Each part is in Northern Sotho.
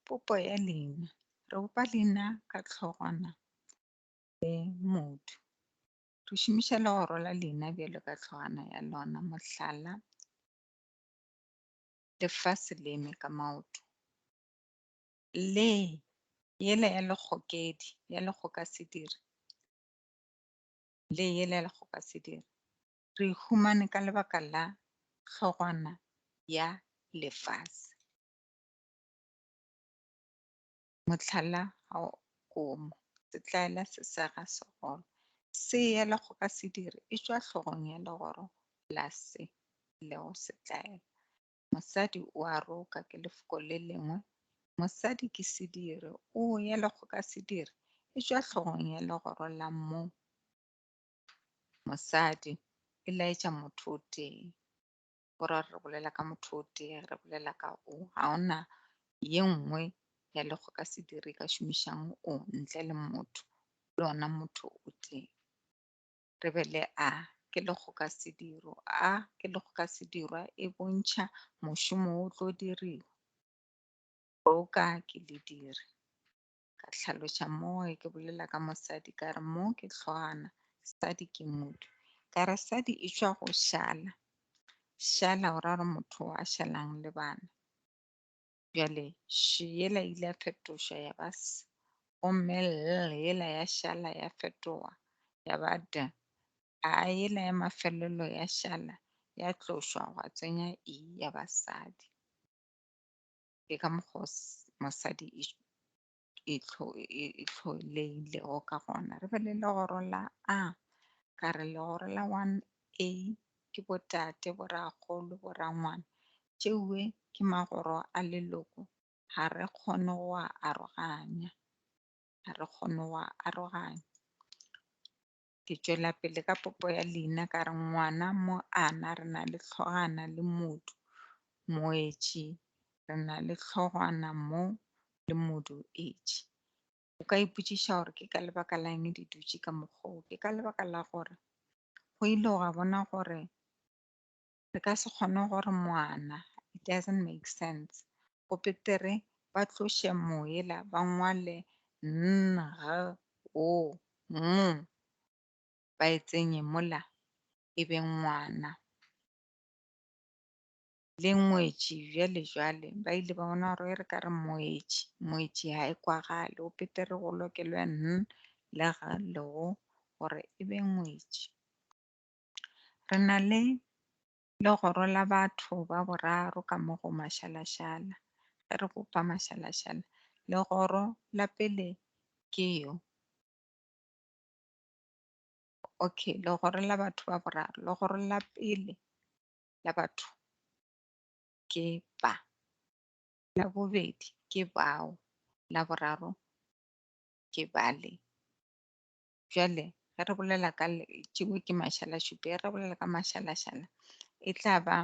popo ya leina re bopa leina ka tlhogwana le motho re šomiša le go rola leina bjalo ka tlhogwana ya lona mohlala lefase le eme ka maoto le yela ya lekgokedi ya lekgoka sediri le yela le go ka se dire. Re e humane ka lebaka la hlogwana ya lefase. Mohlala ga o komo, setlaela se sega segolo. Se yela go ka se dire e tšwa hlogong ya legoro la se lego setlaela. Mosadi o a roka ke lefoko le lengwe. Mosadi ke sediri, o ya le go ka sediri e tšwa hlogong ya legoro la mo mosadi e laetša motho o tee go ra re bolela ka motho o tee re bolela ka o ga ona ye nngwe ya le go ka sediri ka šomišang o ntle le motho le ona motho o tee re be le A ke lekgokasediro. A ke lekgokasedirwa e bontšha mošomo o tlo diriwa. Boka ke lediri. Ka tlhaloša moo ke bolela ka mosadi ka re mo ke tlhwana, sadi ke motho. Ka re sadi e tšwa go šala. Šala o ra gore motho a šalang le bana. Bjale she yela ile ya fetoša ya ba s, gomme l yela ya šala ya fetoga ya ba d, a yela ya mafelelo ya šala ya tlošwa gwa tsenya i ya ba sadi. Ke ka mokgwa o mosadi e e tlholegilego ka gona re be le legoro la a ka re legoro la 1a ke botate borakgolo borangwana tšeue ke magoro a leloko ga re kgone go a aroganya ga re kgone go a aroganya Ke tšwela pele ka popo ya leina ka re ngwana mo ana re na le tlhogana le modu moetši re na le tlhogwana mo le modu etši. O ka ipotšiša gore ke ka lebaka la eng di dutše ka mokgwa o. Ke ka lebaka la gore go ile gwa bona gore Re ka se kgone gore moana, it doesn't make sense. Go betere ba tloše moela ba ngwale N, G, O, ng, ba e tsenye mola e be ngwana. Le ngwetši bjale jwale ba ile ba bona gore e re ka re moetši, moetši ha e kwagale. Go betere go lokelwe N le G le O gore e be ngwetši. Re na le legoro la batho ba boraro ka mo go mašalašala, ge re bopa mašalašala. Legoro la pele ke yo. Okay, legoro la batho ba boraro. Legoro la pele la batho ke ba. La bobedi ke bao. La boraro ke bale. Bjale ge re bolela ka tšeo ke mašalašupe, ge re bolela ka mašalašala e tla ba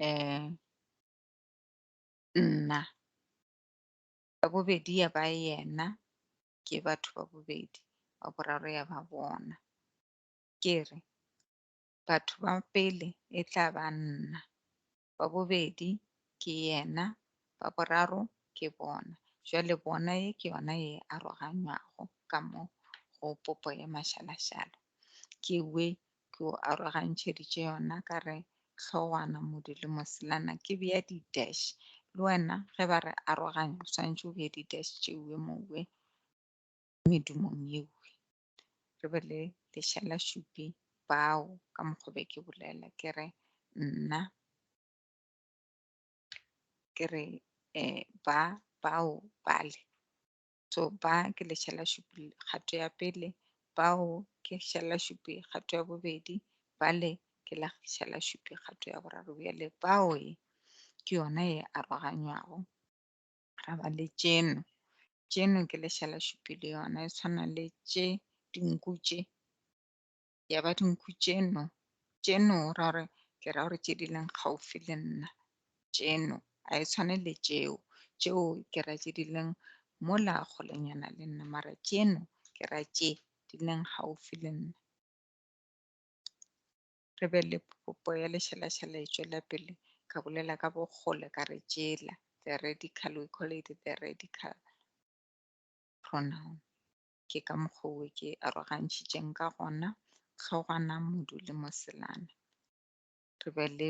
um nna ya bobedi ya ba yena ke batho ba bobedi wa boraro ya ba bona ke re batho ba pele e tla ba nna ba bobedi ke yena, ba boraro ke bona. Bjale bona ye ke yona ye aroganywago ka mo go popo ye mašalašala. Ke hwe ke o arogantšheditše yona ka re hlogwana, modu le moselana ke bea di dash. Le wena ge ba re aroganya o swanetše o bee di dash tše hwe mo hwe medumong ye hwe. re be le lešalašupi bao ka mokgwa be ke bolela ke re nna ke re um ba bao bale so ba ke lešalašupi kgato ya pele bao ke šalašupi kgato ya bobedi bale ke la šalašupi kgato ya boraro bjale bao e ke yona e aroganywago ra ba le tšeno tšeno ke lešala šupi le yona e tshwana le tše dinku tše ya ba dinku tšeno tšeno ra re ke ra gore tše di leng gaufi le nna tšeno a e tshwane le tšeo tšeo ke ra tše di leng mo la golenyana le nna mara tšeno ke ra tše di leng gaufi le nna re be le popo ya lešalatšhala e tšwela pele ka bolela ka bokgole ka re tšela the radical we call it the radical pronoun ke ka mokgowe ke arogantšhitšeng ka gona tlhogwana modu le moselana re be le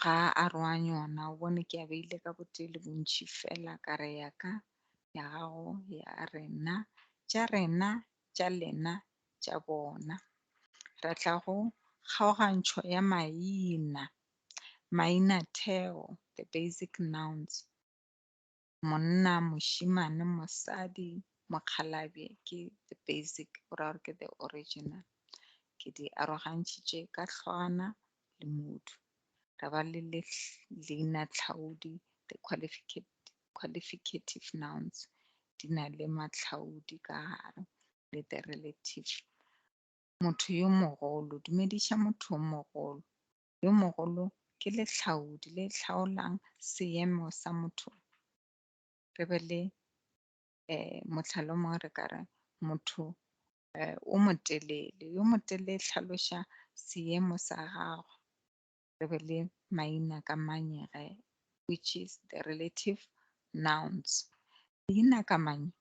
ga a aroanye ona o bone ke a beile ka botee le bontšhi fela ka re ya ka ya gago ya rena tša rena tša lena tša bona re tla go kgaogantšho ya maina maina theo the basic nouns monna, mošimane, mosadi, mokgalabje ke the basic go ra gore ke the original. Ke di arogantšhitše ka hlwana le motho ra ba le leina tlhaodi the qualificative nouns di na le matlhaodi ka gare le the relative motho yo mogolo dumediša motho yo mogolo yo mogolo ke lehlaodi le hlaolang seemo sa motho. Re be le eh, mohlalo mongwe re ka re motho eh, o motelele yo motelele e hlaloša seemo sa gagwe re be le maina ka manyege which is the relative nouns leina ka manye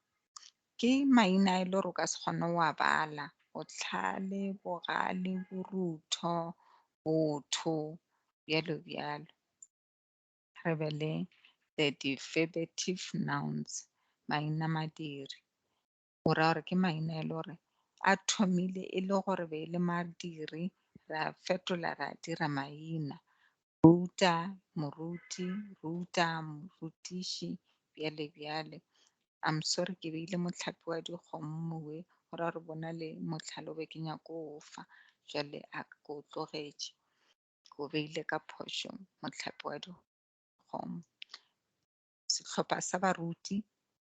Ke maina e le gore o ka se kgone go a bala, bohlale, bogale, borutho, botho, bjalo bjalo. Re be le the defervative nouns, maina madiri, go ra gore ke maina e le gore a thomile e le gore be e le madiri ra fetola ra dira maina Ruta, moruti, ruta, morutiši, bjale bjale. I'm sorry ke beile mohlape wa dikgomo mowe go ra gore bona le mohlalo be ke nyako o fa jale a ko o tlogetše ko beile ka phošo mohlape wa dikgomo sehlopha sa baruti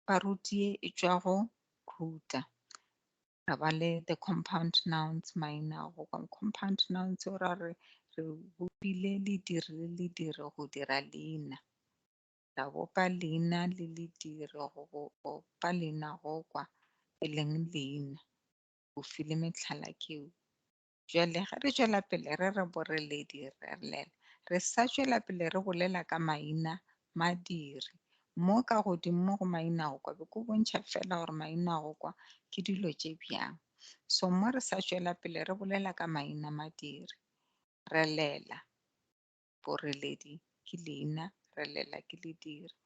ba rutie e tšwa go ruta ra ba le the compound nouns maina go compound nouns o ra re re bopile lediri le lediri go dira leina ra bopa leina le lediri go bopa leina go kwa e leng leina o file metlhala keo Bjale ge re tšwela pele re re boreledi re a llela, re sa tšwela pele re bolela ka maina madiri. Mo ka godimo mo go maina go kwa be ko bontšha fela gore maina go kwa ke dilo tše bjang. So mo re sa tšwela pele re bolela ka maina madiri. Re llela, boreledi ke leina, re llela ke lediri.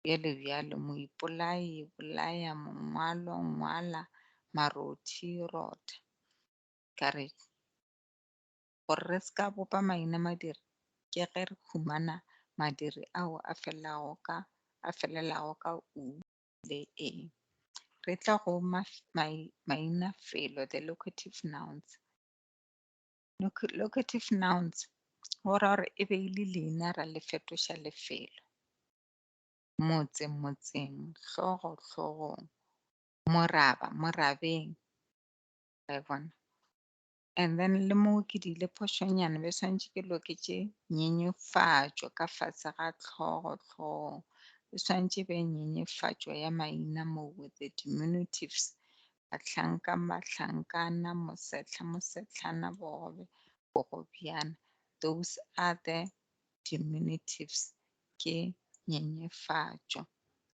Bjalo bjalo, moipolai, bolaya, mongwalo, ngwala, marothi, rotha. ka re, Gore re se ka bopa maina madiri, ke ge re humana madiri ao a felelago ka, a felelago ka u le e. Re tla go ma, mai, mainafelo, the locative nouns. Loc, locative nouns go ra gore e be e le leina ra le fetoša lefelo. Motse, motseng, hlogo, hlogong. Moraba, morabeng. I bona. And then le mo ke di le phošonyana be swantše ke loketše nyenyefatšo ka fatshe ga tlhogo tlhogo. E swantše be nyenyefatšo ya maina mo with the diminutives. Bahlanka, mahlankana, mosetlha, mosetlhana, bogobe, bogobjana. Those are the diminutives. Ke nyenyefatšo.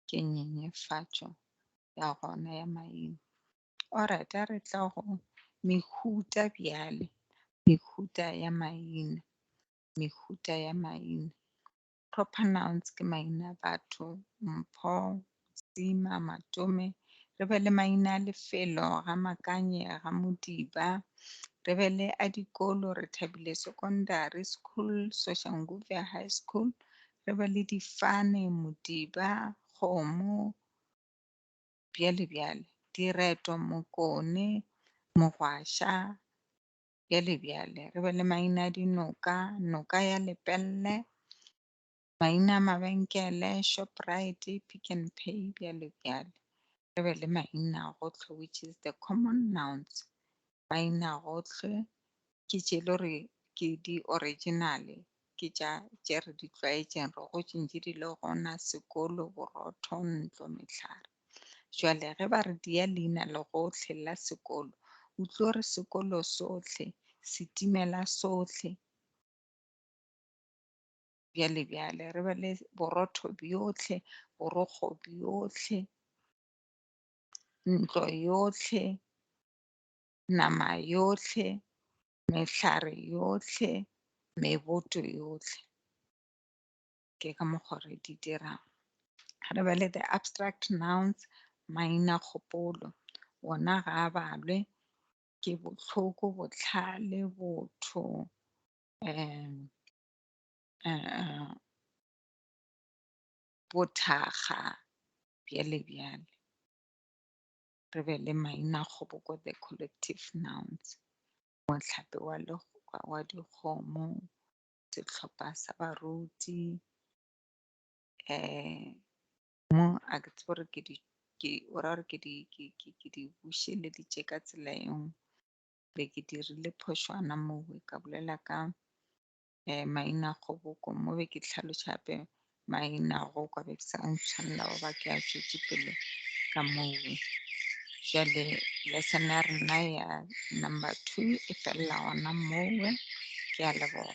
Ke nyenyefatšo ya gona ya maina. Alright, a re tla go mehuta bjale, mehuta ya maina, mehuta ya maina. Proper nouns ke maina a batho, mpho, sima, matome. Re be le maina a lefelo, ga makanye, ga modiba. Re be le a dikolo, re thabile secondary school, Soshanguve High School. Re be le difane, modiba, kgomo, bjale bjale. Direto Mokone, Mogwaša, bjale bjale. Re be le maina a dinoka, Noka ya Lepelle, maina a mabenkele, Shoprite, Pick n Pay, bjale bjale. Re be le maina a go tlho which is the common nouns, Mainagohle ke tše e le gore ke di original ke tša tše re di tlwaetšeng re gotše ntše di le gona, sekolo, borotho, ntlo, mehlare. Jwale ge ba re di ya leina le gohle la sekolo o tlo re sekolo sohle, setimela sohle bjale bjale re be le borotho bjohle, borokgo bjohle, ntlo yohle. nama yohle, mehlare yohle, meboto yohle. Ke ka mokgwa re di dirang. Re be le the abstract nouns, maina kgopolo. Ona ga a balwe ke bohloko, botlhale, botho, um, um, bothakga, bjale bjale. re be le mainakgoboko the collective nouns mohlape wa legokwa wa dikgomo sehlopha sa baruti um mo a ke tsebo gore ke di ke o ra gore ke di ke ke ke di bušeleditše ka tsela engwe be ke dirile phošwana moo ka bolela ka eh, maina kgoboko mo be ke tlhaloša gape maina go kwa be ke sa ntshwanela go ba ke a tšwetse pele ka moo jale lesson ya rena ya number two e felela gona mowe ke a leboga